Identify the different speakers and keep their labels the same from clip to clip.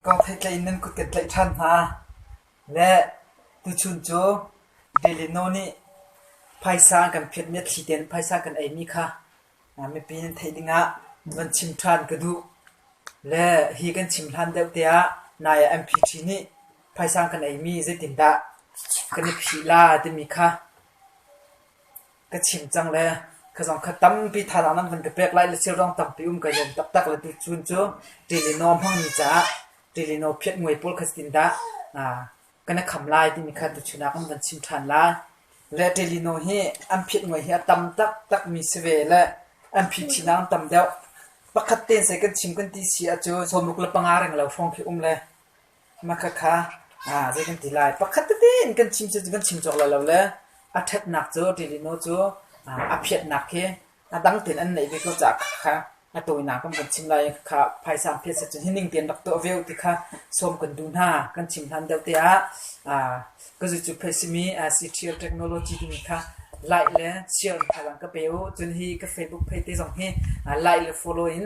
Speaker 1: Ka theitlein nan kut kan tlaih ṭhan hna. Le tuchun cu Delino nih phaisa an kan phiatmi a thli tein phaisa kan eimi kha mipi nan theih dingah van chim ṭhan ka duh. Le hi kan chim hlan deuh teah nai ah MPT nih phaisa an kan eimi zeitindah kan i phih la timi kha. ka chim cang le ka zong kha tampi thazaang nan van ka pek lai le silrong tampi um ka zuam taktak le tu cun cu Ṭilino hmangmi caah Ṭilino phiat nguai pawl kha tin dah ka na kham lai timi kha tu chunak an van chim ṭhan lai. Le Ṭilino hi an phiat nguai hi a tam taktakmi si ve le an phiṭhinang tam deuh. Pakhat te sai kan chim kan ti si ah cu sawmruk le panga reng lo hrawng khi um le Makhakha zei kan ti lai. Pakhat tete in kan chim cu kan chim cawk lo le a ṭhatnak cu Ṭilino cu a phiatnak hi a dang tein an neih ve ko caah khakha a tawinak kam kan chim lai i khakha phaisa phiat set cun hi ning tein rak tuah ve uh ti kha sawm kan duh hna. Kan chim hlan deuh te ah ka zu cu phe simi CTO Technology timi kha like le share in thazaang ka pe uh. Cun hi ka Facebook page te zong hi like le follow in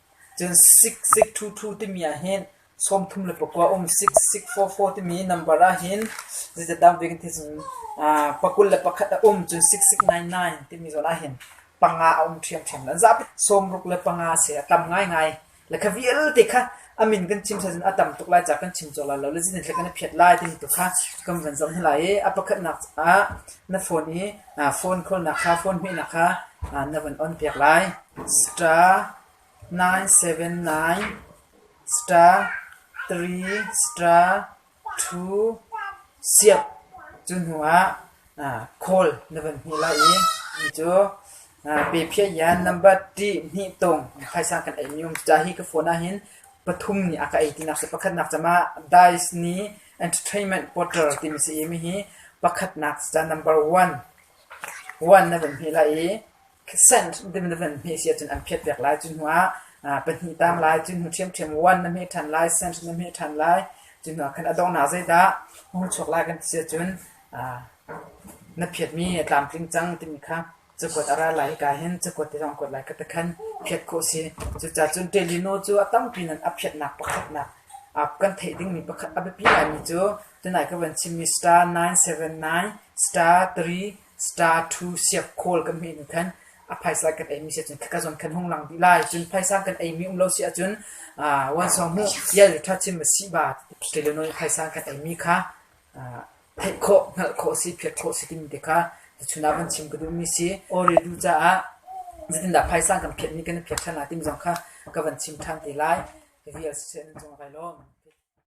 Speaker 1: Cun siksik ṭhuṭhu timi ahhin sawmthum le pakua a um. Siksik fawfaw timi nambar ahhin zeicadah ve kan ti cun pakul le pakhat a um. Cun siksik nainai timi zawn ahhin panga a um ṭhiamṭhiam lo. An zapi sawmruk le panga a si. A tam ngaingai. Le kha vialte kha a min kan chim seh cun a tam tuk lai ca kan chim cio lai lo le zinhle kan i phiat lai timi tu kha kan van zoh hna lai i a pakhatnak ah na phone i Phone khawlnak kha phone hmehnak kha na van on piak lai. Star nine seven nine star three star two siap cu hnuah khawl na van hni lai i mi cu pe phiah yan number ṭih hnih tong khaisang kan ei mi um. Cucaah hi ka phone ahhin pathum ni a ka ei tinak si. Pakhatnak cam ah dice ni Entertainment Portal timi sayimi hi pakhatnak ca number one one na van hme lai i cent ding na van hme si ahcun an phiat piak lai. Cu hnu ah aa pahnih tam lai. Cu hnu ṭhiamṭhiam one na hme ṭhan lai, cent na hme ṭhan lai. Cu hnu ah khan a donghnak zeidah hung chuak lai kan ti si ahcun aa na phiatmi a tlamtling cang timi kha Cakuat a ra lai hika hin cakuat te zong a kuat lai ka ti khan phiat khawh si. Cucaah cun Ṭelino cu a tampi in a phiatnak pakhatnak kan theih dingmi pakhat a biapi ngaimi cu tunai ka van chimmi star 979, star 3, star 2 siak khawl kan hmuh in khan a phaisa kan eimi si ahcun khaka zon kan hung lang dih lai. Cun phaisa kan eimi um lo si ahcun wan sawng hmuh ial ṭha chim a si ba Ṭelino i phaisa kan eimi kha Theih khawh, hngalh khawh si, phiat khawh si timi te kha tuchun ah van chim ka duhmi si. Awredu caah zeitindah phaisa kan phiatmi kan i phiat ṭhan lai timi zong kha ka van chim ṭhan te lai. Ka vial siseh, nan cung ah kai lawm.